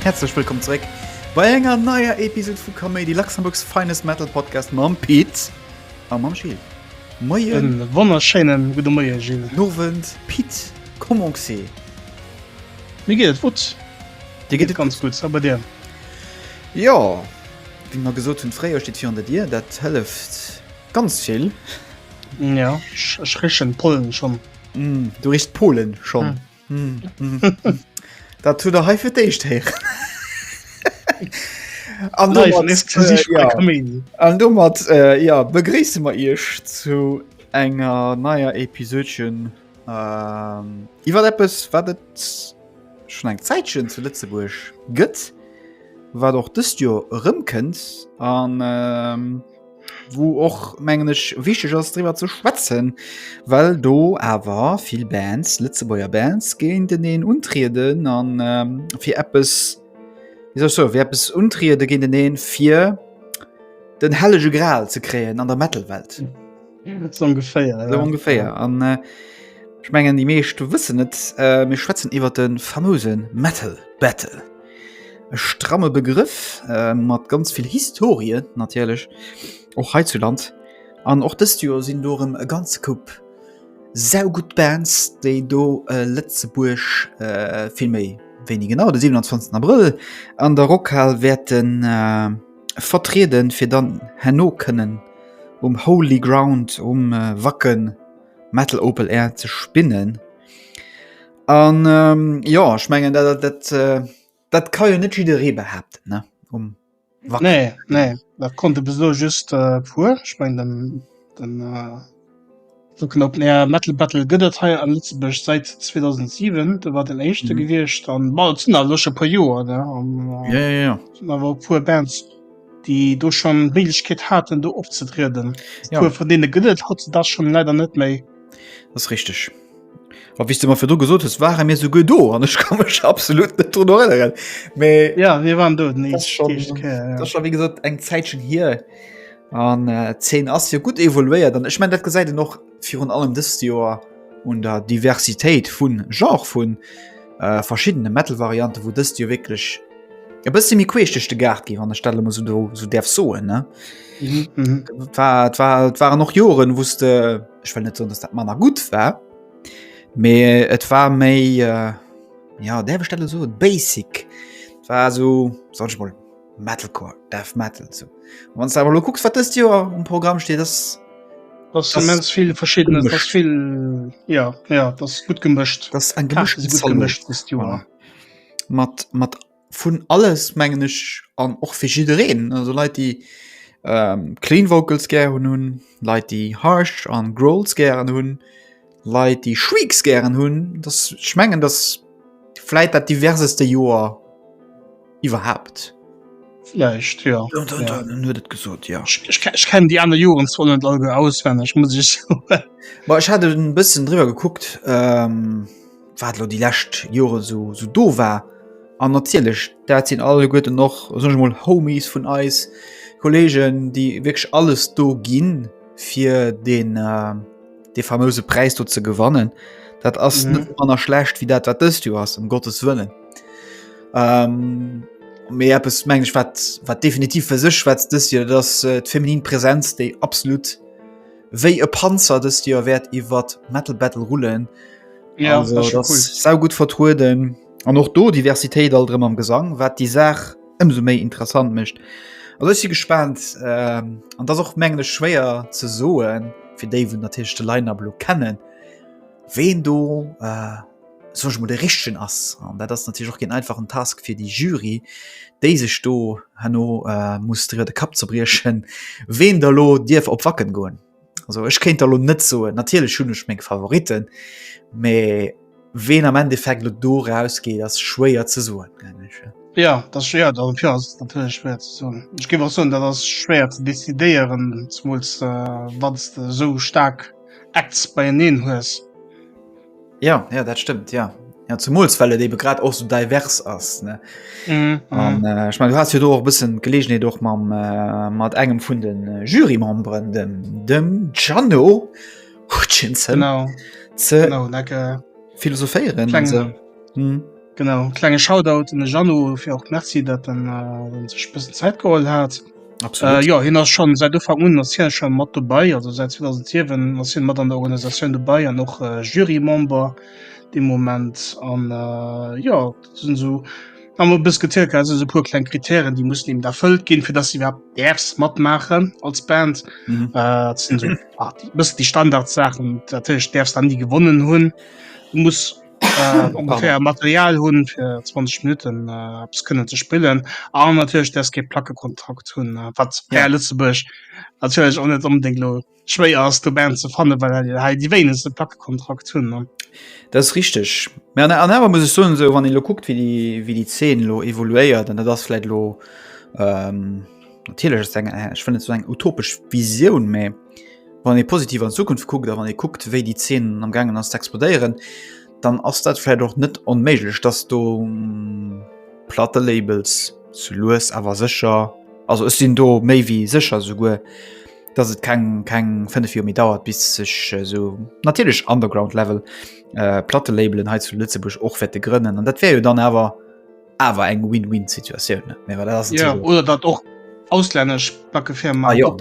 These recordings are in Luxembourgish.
Häerzlech wëllkomm zréck bei enger neier Episode vu Kaméidi, Luxembourgs finest Metal Podcast mam Pit a mam Gilles. Moien. E wonnerschéinen gudde Moien, Gilles. Guten Owend, Pit. Comment c'est? Mir geet et gutt. Dir geet et ganz gutt. A bei dir? Jo, wéi mer gesot hunn, d'Fréijoer steet virun der Dier. Dat hëlleft ganz vill. Jo, ech richen d'Pollen schonn. Du richs d'Polen schonn? Dat hutt Der hei fir d'éischt héieren. An domat, jo, an domat, jo, begréisse mer Iech zu enger neier Episödchen. Ähm, iwwer eppes wat et schon eng Zäitchen zu Lëtzebuerg gëtt, wat och dëst Joer erëmkënnt an ähm, wou och menggeneg wichteg ass driwwer ze schwätzen, well do awer vill Bands Lëtzebuerger Bands géinteneen untrieden an ähm, fir eppes wéi soll ech soen, fir eppes untriede géinteneen, fir den hellege Gral ze kréien an der Metal-Welt. ongeféier ja. ongeféier an äh, ich mengen die meescht wëssen net äh, mir schwätzen iwwer den famosen metal battle e stramme begriff äh, mat ganz viel historie natierlech och he zu land an och dëst jo sinn dorem e ganz kupp sau gut bands déi do äh, letzebuerg äh, vill méi wéini genau de 27 april an der rockhal werden äh, vertrieden, fir dann herno kënnen um Holy Ground um Wacken Metal Open Air ze spinnen. An ähm, jo ech mengen dat dat dat äh, dat ka jo net jidderee behaapten ne um Wacken. Nee, nee, dat konnte bis elo just e puer. Ech mengen den den äh, Sou knappt nee a Metal Battle gëtt et hei a Lëtzebuerg säit 2007. Do war den éischte gewiescht an bal sinn awer scho e puer Joer ne an ja, ja, ja. sinn awer e puer Bands, déi do schonn d'Méiglechkeet haten, do opzetrieden. Ja. E puer vun deene gëtt et hautzedags schonn leider net méi. Dat ass richteg. A wéi s de mer virdru gesot hues, ware mir souguer do an ech ka mech absolut net drun erënneren. Mee Ja, mir waren do den das ist schon, éischte Kéier, ja. das ist schon wie gesagt eng Zäitchen hier an äh, d'Zeen ass jo gut evoluéiert an ech mein dat gesäit en och virun allem dëst Joer un der Diversitéit vun Genre vun äh, verschiddene Metal-Variante wou dëst jo wierklech e bësse méi queesch duerch de Gaart gi wann ech dat lo mol so do so däerf soen ne. Mhm, mhm. Et war, et war, et waren och Joren wouste ech well net so dass dat manner gut war mee et war méi äh, ja der bestelle so basic war so soll ich mal metalcore death metal so wann aber du gucks wat das dir um Programm steht das das immens viel verschiedene das viel ja ja das gut gemischt das ein gemischt gemischt mat mat vun alles mengen ech an och fir jiddereen also Leit déi ähm, clean Vocals gären hunn, Leit déi harsh an Growls gären hunn, Leit déi Shrieks gären hunn, dass ech mengen dass vläit dat diverseste Joer iwwerhaapt. Vläicht ja. Dun, dun, ja. dun, huet et gesot ja. Ich, ich, ich kennen déi aner Joren zwar net all auswenneg muss ich. Ech hat e bëssen driwwer gekuckt. Ähm, wat lo déi lescht Jore so, so do war. An natierlech, dat sinn alleguerten noch soch mol Homies vun eis, Kollegen, déi wierklech alles do ginn, fir den äh, de famouse Präis do ze gewannen. Dat ass mhm. net manner schlecht wie dat wat dëst du ass um Gottes wëllen. Ähm, méi Apps meng ich wat wat definitiv fir sech schwätzt dës hier, dats äh, d'feminin Präsenz déi absolut wéi e Panzer dëst Joer wäert iwwer Metal Battle rullen. Ja, also, das das cool. sau gut vertrueden an och do Diversitéit all drëm am Gesang, wat die Saach ëmso méi interessant mécht. Also si gespannt ähm, an dat och mengle schwéier ze soen, fir déi vun der Tischchte Leiinablo kennen. Ween do äh, soll ech mol de richtigen ass. An dat ass natürlich och geen einfachen Task fir déi Jury, déi sech do hanno äh, muss driwwer de Kapp zerbriechen, ween der lo dierf op Wacken goen. Also ech kéint der lo net soen, natierlech hunn ech meng Favoriten, mee ween am Endeffekt lo do rausgeet, ass schwéier ze soen, mengen ech. Ja, dat ass ja, dat ja, ass natierlech schwer ze soen. Ech géif och soen, dat ass schwer ze decidéieren, zumools äh, wann s de esou staark Acts beieneen hues. Ja, ja dat stëmmt ja. Ja, zumools well et ebe grad och so divers ass ne mm, mm. Äh, ich mein, du hast jo do och bëssen Gelegenheet och mam äh, mat engem vun den äh, Jurymemberen dem dem Gianno Hutchinson ze philosophéieren. Genau klenge Shoutout un de Jeannot fir och Merci, datt en sech e bëssen Zäit geholl hat. Absolut. Äh, jo hien ass schon säit Ufank un ass hien schon mat dobäi, also säit 2007 ass hien mat an der Organisatioun dobäi an och äh, Jurymember de Moment an äh, jo sinn sou am e bëss gezielt gehabt, se puer kleng Kritären, déi mussen eben erfëllt ginn, fir dass se iwwerhaupt däerfs matmaachen als Band. Mhm. Äh, dat sinn sou ah, déi- bëssen déi Standardsaachen, datëlech däerfs dann déi gewonnen hunn, muss ongeféier Material hunn fir 20 Minutten eppes kënnen ze spillen an natierlech ders kee Plackekontakt hunn, wat hei a Lëtzebuerg natierlech och net onbedéngt elo schwéier ass do Band ze fannen, well hei déi wéinegste Plackekontakt hunn. Dat ass richteg. Mä an an awer muss ech soen, esou wann ee elo kuckt wéi déi wéi déi Zeen elo evoluéiert an dat ass vläicht elo. Natierlech ass eng ech wëll net esou eng utopesch Visioun, mä wann ee positiv an d'Zukunft kuckt a wann ee kuckt, wéi déi Zeen am gaangen ass ze explodéieren, dann ass dat vläicht och net onméiglech, dass do Plattelabels sou lues awer sécher, also ech sinn do méi wéi sécher souguer, dass et keng keng fënnef Joer méi dauert, bis sech esou natierlech Underground-Level Plattelabelen hei zu Lëtzebuerg och wäerte grënnen. An dat wär jo dann awer, awer eng Win-Win Situatioun ja, oder dat och auslännesch backe fir ah, ja,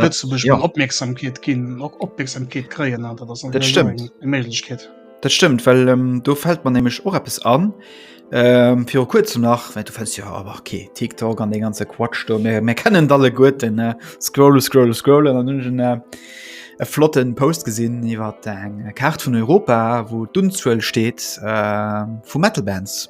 ja. opmerksamkeet ginn och opmerksamkeet kreien dat stimmt Mlechkeet Dat stimmt well ähm, do fällt man nämlich och appppes an ähm, fir kurz nach wenn du fäst ja aber okay TikTok an de ganze Quatsch do mir, mir kennen alle gut den äh, scroll scroll scroll an den äh, e flotten Post gesinn iwwer eng Kart vun Europa, wo d'Unzuuel steet äh, vu Metalbands.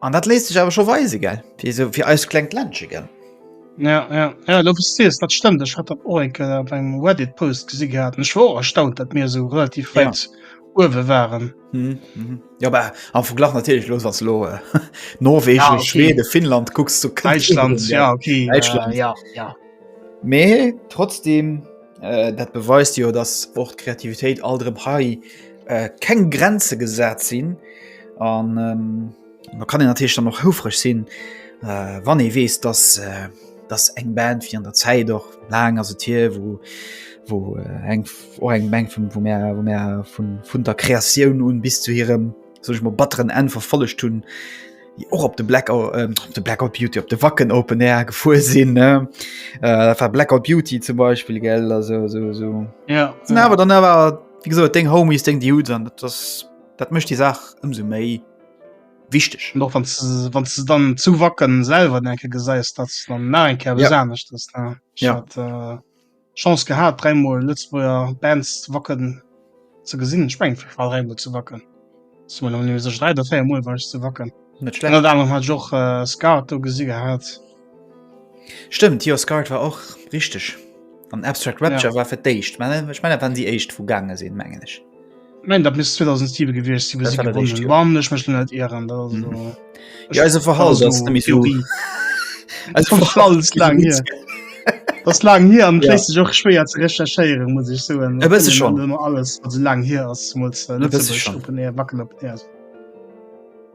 An dat léisst sech awer scho weise gell, fir esou fir eist klengt Ländche gell. Ja, ja, ja lo wou s sees, dat stëmmt. Ech hat dat och eng Kéier op engem Reddit-Post gesi gehat an ech war och erstaunt, datt mir esou relativ Ja. wäit uewe waren. Mhm, mhm. Jo bah, am Verglach natierlech elo, wann s de elo Norwegen, Ja, okay. Schweden, Finnland kucks, do kënnt Däitschland, Schweden, ja, okay, Däitschland. ja, ja. Mee trotzdem. Äh, dat beweist jo, dass och d'Kreativitéit alt erëm hei äh, keng Grenze gesat sinn an ähm, da kann en natierlech dann noch houfreg sinn, äh, wann ee weess, dass äh, dass eng Band fir an der Zäit och laang ass et hier, wo wo äh, eng och eng Meng vum vu Mä vun der Kreatioun un bis zu hirem soch mat batteren Enn verfollegt hunn, déi och op de Blackout, äh, de Blackout Beauty op de Wacken Open Air gefuer sinn äh, war Blackout Beauty zum Beispiel gell also, so, so. Ja, ja. awer dann awer wie gesot deng Homies deng die Hut an das dat mecht die Saach ëmse méi wichteg noch wann wann ze dann zu wacken selber enke geseist dat dann na en ker ja. besanecht ja. äh, Chance gehat 3 mol Lëtzebuerger Bands Wacken ze gesinn, ech mengen war 3 mol zu Wacken, si mer awer net méi sécher, 3 oder 4 mol war ech zu Wacken. Net schlecht. Ënnert anerem hat ech och Scart do gesi gehat. Stëmmt jo, Scart war och, richteg. An Abstract Rapture war fir d'éischt, mä ech mengen dat waren déi éischt wou gaange sinn, mengen ech. Nein, dat miss 2007 gewicht sinn, wéi si gewonnen hunn. Wa mech mech net Ieren Ja se verhall Das la hier am kle sech och schwéier ze recherchéiere muss ich so se schon immer alles wat se lang hier ass wacken op.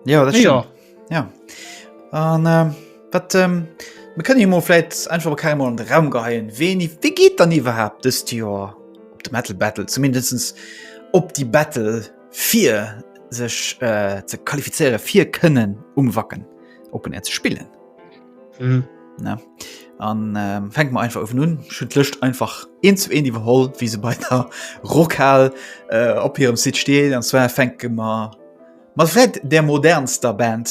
Ja, ja. Ja an äh, wat ähm, mir kënne mo fläit einfach op keimmol an de Raum geheien. Weni wéi geet dann iwwerhaapt dëst Joer op de Metal Battle zumindestens op déi Battle fir sech äh, ze qualifizéiere fir kënnen um Wacken Open Air ze spillen. Mhm. Ne? An ähm, fänk mal einfach ofen un schütt lëcht einfach een zu een iwwerholl, wie se bei der Rockhal äh, op hirem Site stehen an zwar fänke mer Mat vläit där modernster Band,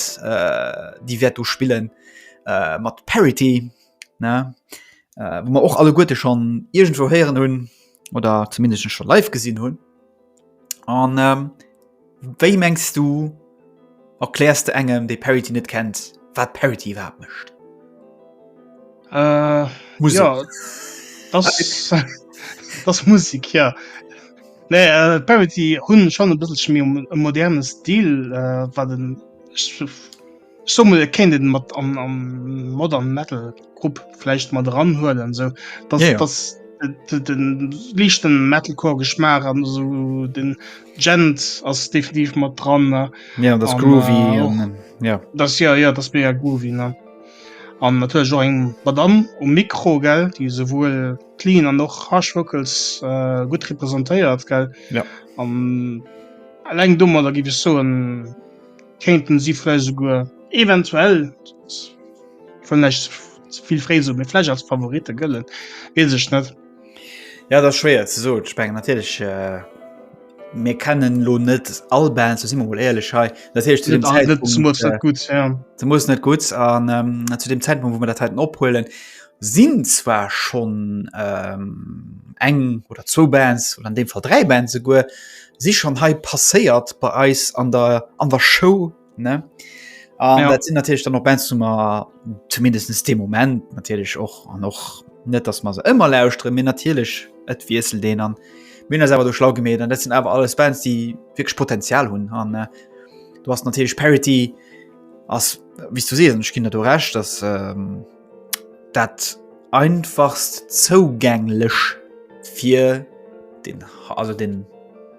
déi wäert do spillen, mat Parity, ne, wou mer och alleguerte schonn iergendwou héieren hunn oder zumindest scho live gesinn hunn. An wéi mengs du, erkläers de engem, dee Parity net kennt, wat Parity iwwerhaapt mécht? äh, Musik. Ja, das, das Musik ja nee, äh, Parity hun schon bisschen mir um, um modernen Stil äh, war den so kennt den mat am, am modern metal Grupp vielleicht mal dran hörten so das, ja, ja. das den lichten metalcore geschmaach an so den gent als definitiv mal dran ja das groovy äh, ja das ja ja das mir ja groovy ne An natierlech och eng Madamm um Mikro, gell, déi esouwuel d'Clean an och d'Harsh Vocals gutt representéiert, gell. Jo. An eleng domadder, géif ech soen, kéinten si vläicht esouguer eventuell, ech wëll näischt ze vill fréi soen, mee vläicht als Favoritte gëllen, weess ech net. Ja dat schwéier ze so sprengen natierlech mir kennen lo net all Band so simmer wol eierlech hei dat hecht zu dem gut ze muss net gutt an ähm, zu dem Zentrum wo man dat heiten ophuelen sinn zwar schon ähm, eng oder zwo Bands oder an dem Fall drei Band se guer si schon hei passéiert bei eis an der an der Show ne an ja. dat sinn natürlich dann noch ben zu mal zumindestens dem moment natürlich och an och net dass man se immer lauschtre mir natürlich et wiesel den an Min awer du schlau gemet an dat sind awer alles Bands die wirklich Potenzial hunn an äh, du hast natürlich Parity as wie du se ich kind du recht dass ähm, dat einfachst zougänglech fir den also den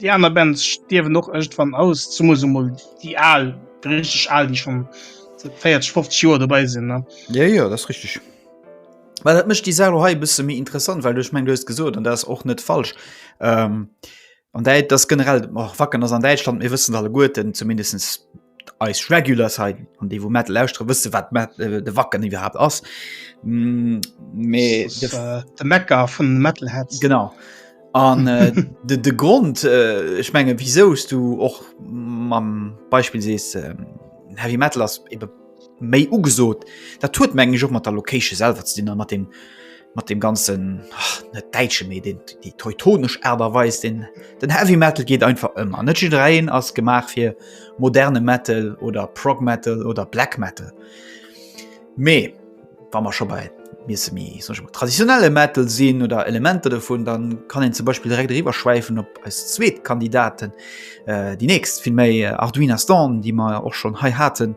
Déi aner Bands stierwen och iergendwann aus, zumools emol déi al, déi richteg al, déi schonn säit 40, 50 Joer dobäi sinn, ne? Jo, jo, dat ass richteg. Well dat mécht déi Saach elo hei e bësse méi interessant, well du, ech mengen, du hues gesot, an dat ass och net falsch, an Däit-, dass generell, och Wacken ass an Däitschland, mir wëssen alleguerten, zumindest eis Regulars hei an dee wou Metal lauschteren, wësse wat Met- äh, de Wacken iwwerhaapt ass. Mm, Mee Das de ist, äh, de Mecker vun Metalheads. Genau. An äh, de, de Grond äh, ech menge wisous du och mam Beispill sees äh, Heavy Metal ass ebe méi ugesot, dat huet mengg ech och mat der Location selwer ze dinn a mat dem mat dem ganzen ach, net Däitsche méi den déi teutonesch Aart a Weis den den Heavy Metal geet einfach ëmmer. Net jiddwereen ass gemaach fir moderne Metal oder Prog Metal oder Black Metal. Mee wa mer scho bei miesse mi sech mat traditionelle Metal sinn oder Elementer dovun, dann kann een zum Beispiel direkt eriwwer schwäifen op eis zweet Kandidaten, äh, déi nächst vill méi Arduina Storm, déi mer och schonn hei haten.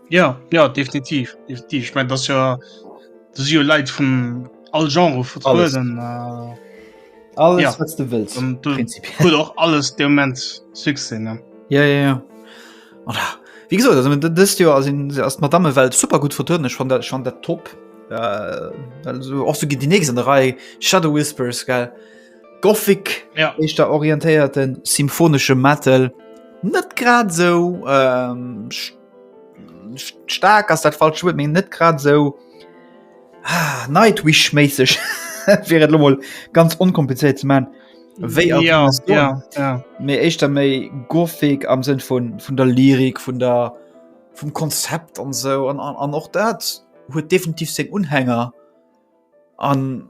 Ja ja definitiv definitiv ich mein, das ja das ja Lei vun all genre vu alles, äh, alles ja. was du willst und, du, du auch alles der moment sinn ne ja ja ja oder wie gesagt also das ja also erst madame welt super gut vertönen schon der schon der top äh, also auch so geht die nächste Reihe shadow whispers geil gothic ja ich da orientierten symphonische metal net grad so ähm, Staark ass dat falsche Wuert, mee net grad esou Nightwish-méisseg, fir et elo mol ganz onkomplizéiert ze maachen, wéi a Ruinous Dawn. Ja, ja. Mee éischter méi Gothic am Sënn vun, vun der Lyrik, vun der, vum Konzept an esou. An, an, an och dat huet definitiv seng Unhänger. An.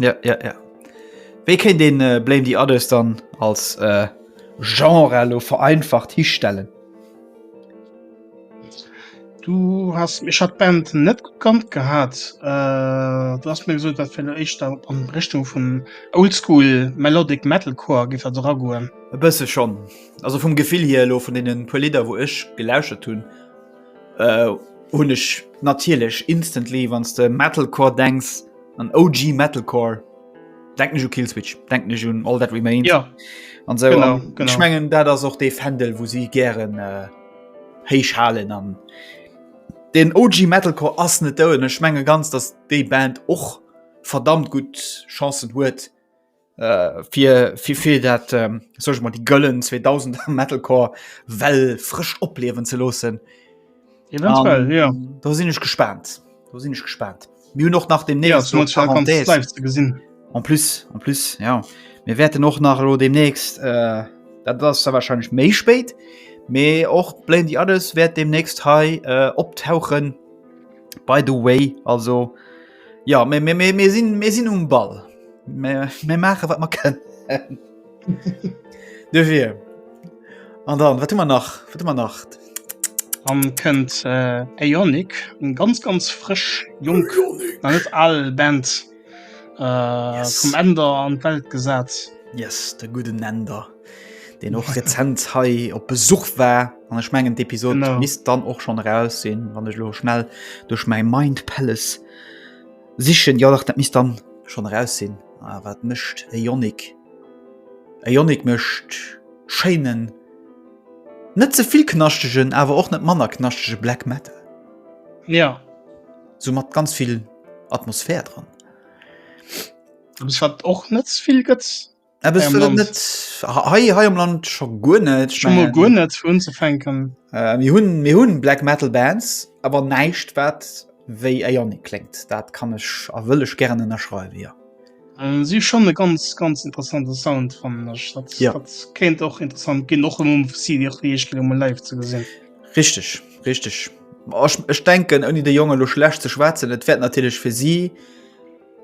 Ja, ja, ja. Wéi kéint een äh, Blame the Others dann als äh, Genre lo vereinfacht histellen? Du hast mich hat Band net gekannt gehabt äh, du hast mir gesagt dat fir ech da an Richtung vum Oldschool Melodic Metalcore gi dat ragoen. E bësse schon. Also vum Gefill hier lo vun denen puer Lieder, wou ech gelauschert hunn, Äh, hunn ech natierlech instantly, wann s de Metalcore denks, an OG Metalcore, denken ech u Killswitch, denken ech un All That Remains an esou. Genau, genau. Ech mengen, dat ass och dee Fändel, wou si gären héich halen. An den OG Metalcore ass net dout an ech menge ganz, datt déi Band och verdammt gutt Chancen huet, Äh, fir, fir, fir dat, ähm, sag ech mol, déi gëllen 2000er Metalcore Well frësch opliewen ze loossen. Eventuell, um, ja. Da sinn ech gespannt. Da sinn ech gespannt. Mir hunn och nach dem ja, so gesinn. En plus en plus ja mir wäerten och nach lo demnächst äh, dat ass da wahrscheinlich méi spéit. Mee och bléin Di alles wäert demnächst hei äh, optauchen. By the way also Ja mir, mir, mir, mir, sinn, mir sinn um Ball. Mir, mir maache wat mer kënnen. De fir. An dann wat hummer nach wat hummer nacht. An kënnt äh, Aeonic, en ganz ganz frësch Jong an net all Band äh, yes. vum Änder an d' Welt gesat. Yes, de guden Änder, deen och rezent hei op Besuch war. An ech mengen d'Episode no. misst dann och schon raus sinn, wann ech lo schnell duch mei Mind Palace sichen Jo dat misst dann schon raus sinn. Ah, wat mëscht e Jonik? E Jonik mëscht Schéinen net zevill knaschtegen, awer och net manner knaschtege Black Metal. Ja. So mat ganz vill Atmosphär dran. Wat och net vill gëtt Eppes fir dat net hei hei am Land scho guer net guer net hunn ze fenken. Äh, mir hunn mir hunn Black Metal Bands, awer näischt wat wéi Éier ni kléngt. Dat kann ech a wëll ech gären ënnerschreiwe jo. Äh, si schonn e ganz ganz interessante Sound fannen ech. Dat ja. kéint och interessant ginn och um CD och wéi ech ginn um live ze gesinn. Richteg, richteg. Ech denken ouni de Jonge lo schlecht ze schwaatzen, et wäert natierlech fir si.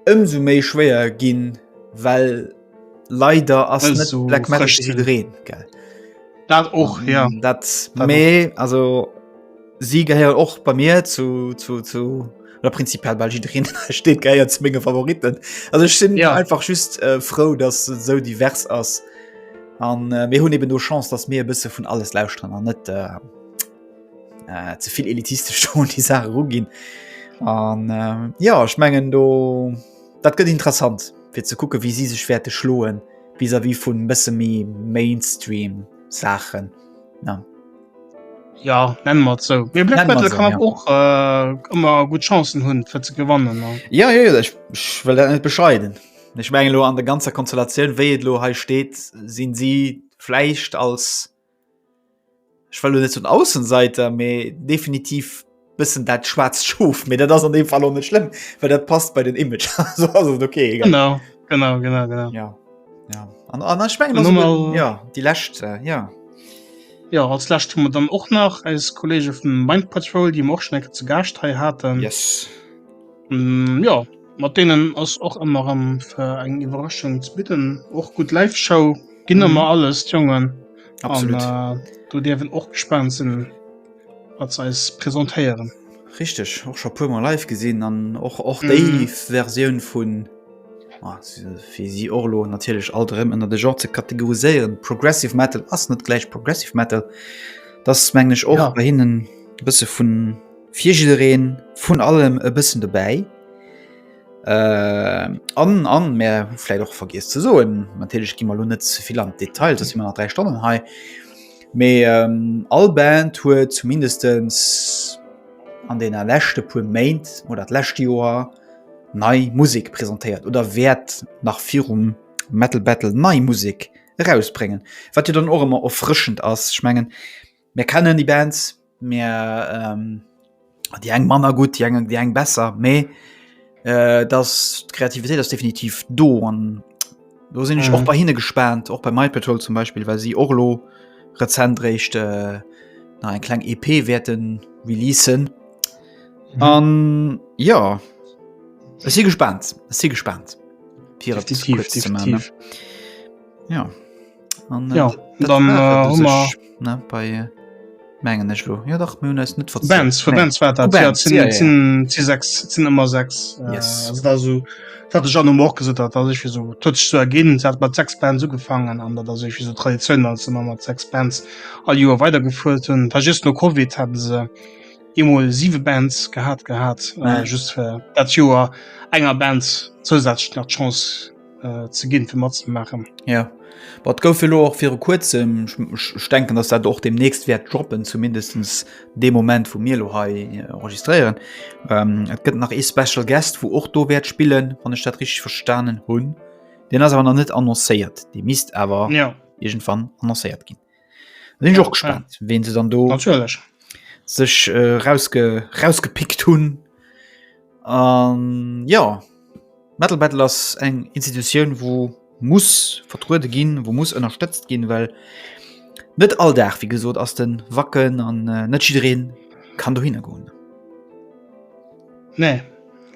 Ëmsou méi schwéier ginn, well leider ass net also, Black Metal fir jiddwereen. Dat och ja. Ähm, dat méi also si gehéiert och bei mir zu, zu, zu oder prinzipiell bei jiddwereen steet geiert ze mége Favoriten. Also ech sinn ja. einfach just äh, frou, dass et sou divers ass. An äh, mir hunn eben do Chance, dass mir e bësse vun alles lausren an net. Äh, äh, ze vill elitistesch schon die Sache rugin an äh, ja ich mengen do dat gëtt interessant fir ze kucke wie sie sech werte schloen vis wie vun bësse mi Mainstream Sachen ja. Ja nennen mat zo so. kann ja. och äh, ëmmer gut Chancen hunn fir ze gewannen ne? Ja ja, ja ich, ich well net bescheiden. Ech mengelo an der ganzer Konstellatioun wéi et lo he steet, sinn sie fleicht als Ech well net zun Aussenseiter méi definitiv bëssen dat schwarz schoof mir dat ass an dem Fall net schlimm, well dat passt bei den Image okay genau, genau, genau, genau. Ja. Ja. An, an, an, ich mein, also, mal, ja, die läscht äh, ja. Ja, als Lächt hun dann och nach als Kollege vum Mind Patrol, die Morschneck ze Gascht hei hatten yes. mm, ja. Mat deenen ass och emmer rem fir eng Iwwerraschung ze bidden. Och gudd Live Show gin emmer mhm. alles d'Jongen. Absolut. An, äh, do dierfen och gespannt sinn wat ze eis presentéieren. Richteg och scho puermer live gesinn an och och déi mm. Verioun vun ah, fir si Orlo natierlech alt rëm ënner de Genre ze kategoriséieren. Progressive Metal ass net gläich Progressive Metal. Dat menglech och ja. bei hinnen bësse vun Fir jiddereen vun allem e bëssen dobäi. Äh, an, an, mär hu vläit och vergiess ze soen, natierlech gi mer lo net ze vill an d'Detail, soss si mer nach 3 Stonnen hei, mee ähm, all Band huet zumindestens an deene leschte puer Méint oder d'lescht Joer nei Musek presentéiert oder wäert nach virum Metal Battle nei Musek erausbréngen, wat jo dann och ëmmer erfrëschend ass. Ech mengen. Mir kennen déi Bands, mir ähm, déi eng manner gutt, déi eng déi eng besser, méi äh, dass d'Kreativitéit ass definitiv do an do sinn ech mhm. och bei hinne gespannt, och bei My Patrol zum Beispiel, well si Orlo rezent réicht äh, na eng kleng EP wäerten releasen. Mhm. An ja si gespannt si gespannt. Definitiv, definitiv. Ja. An, äh, Ja, dat dann, war äh, et u hu mer- sech, ne, bei äh, mengen ech lo ja dach mir hunn eis net verzielt. Bands vu Nee. Bands war dat Vu ja, Bands, sinn- ja, ja. sinn- sinn sechs sinn ëmmer sechs Äh, Yes. also da so dat ech an um och gesot hat dat ich fir so totsch zu erginn se hat mat sechs Bands ugefangen an dat ass ech so Tradition als man mat sechs Bands all Joer weitergefuert hunn da just no Covid hat se emol siwe Bands gehat gehat äh, Ja. just fir dat Joer enger Bands zousätzlech nach d'Chance äh, ze ginn fir mat ze machen. Ja wat gouf lo och fir kurzem denken, dass dat och demnächst wäert droppen zumindestens de Moment vu mir lo ha äh, enregistrieren. Ähm, et gëtt nach e Special Guest, wo och do wäert spillen, wann ech dat rich verstanen hunn. Den ass awer net annoncéiert. Di mist awer ja. irgendwann annoncéiert ginn. sinn och gespannt ja. wen se dann do natürlich sech äh, rausge rausgepickt hunn an ja metal battle ass eng institutioun wo muss vertruude ginn wo muss ënnerstëtzt ginn well net all dach wie gesot ass den wacken an äh, net jiin kann du hingoen Nee,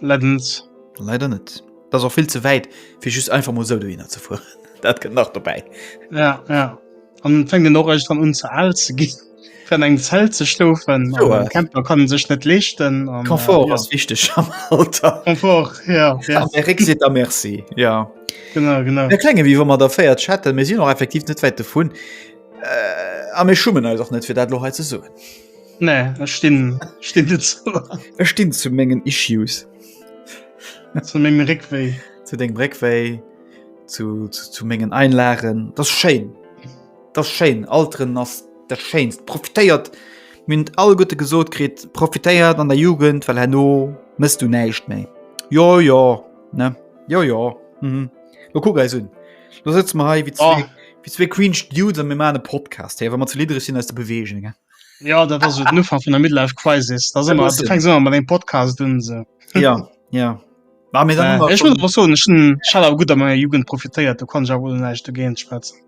leider net. Leider net. Dat ass och vill ze wäit, fir just einfach mol esou dohinner ze fueren. Dat kënnt nach dobäi. Ja, ja. An et fänkt een och iergendwann un, ze al ze ginn, fir an engem Zelt ze schlofen. Jo, a. E Camper kann e sech net leeschten. Confort ass wichteg am Alter. Confort, ja, ja. An de Réck seet da Merci, ja. Genau, genau. Mir kléngen, wéi wa mer der véiert Chatten. Mir sinn och effektiv net wäit dovun. A mir schummen eis och net, fir dat elo hei ze soen. Nee, ech stinn, stinn net zu laang. Ech stinn zu mengen Issues. zu mengem Réckwéi. Zu dengem Réckwéi, zu, zu, zu mengen Einlagen. Das schéin. Das schéin. Alteren ass dat Schéinst. Profitéiert. Mir hunn et all Gutte gesot kritt. Profitéiert an der Jugend, well herno mëss du näischt méi. Jo, jo, ne? Jo, jo. Mhm. Lo kuck eis un. Lo sitz mer hei wie zwee, oh. wie zwee Queen Stude an mir ma den Podcast hey, wann man ze lidereg sinn aus de Bewegung. He? Ja dat ass den Ufer vun der Midlife Crisis da se se mat eng Podcast dun se. Ja ja. War mir dann äh, schon... so, Schall gut a meier Jugend profitéiert, du kann ja wo neicht du géint schwätzen.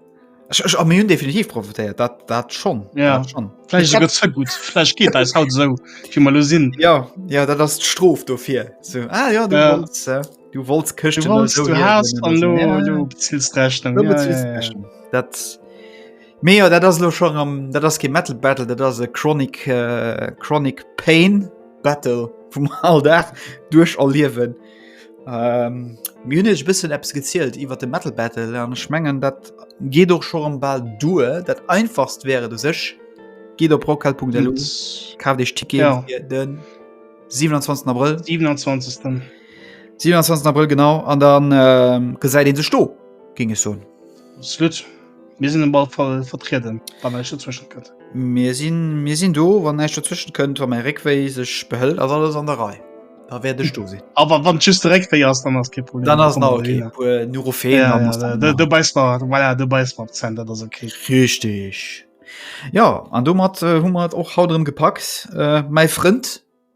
Ech ech am hunn definitiv profitéiert dat dat schon ja dat schon Fläch gëtt ze gut Fläch geet eis haut sou fir mal lo sinn ja ja dat ass d'Strof dofir so ah ja du ja. Wollt's, äh. Du wollt's Këschten no so hier huelen. Dat Mee jo dat ass lo schon am dat ass ke Metal Battle, dat ass e Chronic äh, Chronic Pain Battle vum all Dag duerch erliewen. Ähm, Münech bëssen Apps gezielt iwwer de Metal Battle an schmengen dat geet och scho am bal due dat einfachst wäre du sech Geet op Rockhal.de kaf dech Ticket ja. den 27 April 27. 27 April genau an dann äh, gesäit een sech do ging es so. Slut. Mir sinn ball voll vertrieden wann ech dazwischen kënnt. Mir sinn mir sinn do wann näischt dazwischen kënnt, wann mäi Réckwéi sech behëlt ass alles an der Rei. Da wäert ech do sinn. Awer wann just de Réckwéi ass, dann ass kein Problem. Dann ass nach okay. puer Neurophen Ja, dann ja, ass da- dann da- nach- du beiß mal, voilà, du beiß mal Zent, dat ass okay. Richtig. Ja an domat äh, hu mat och haut erëm gepackt. Äh, mäi Frënd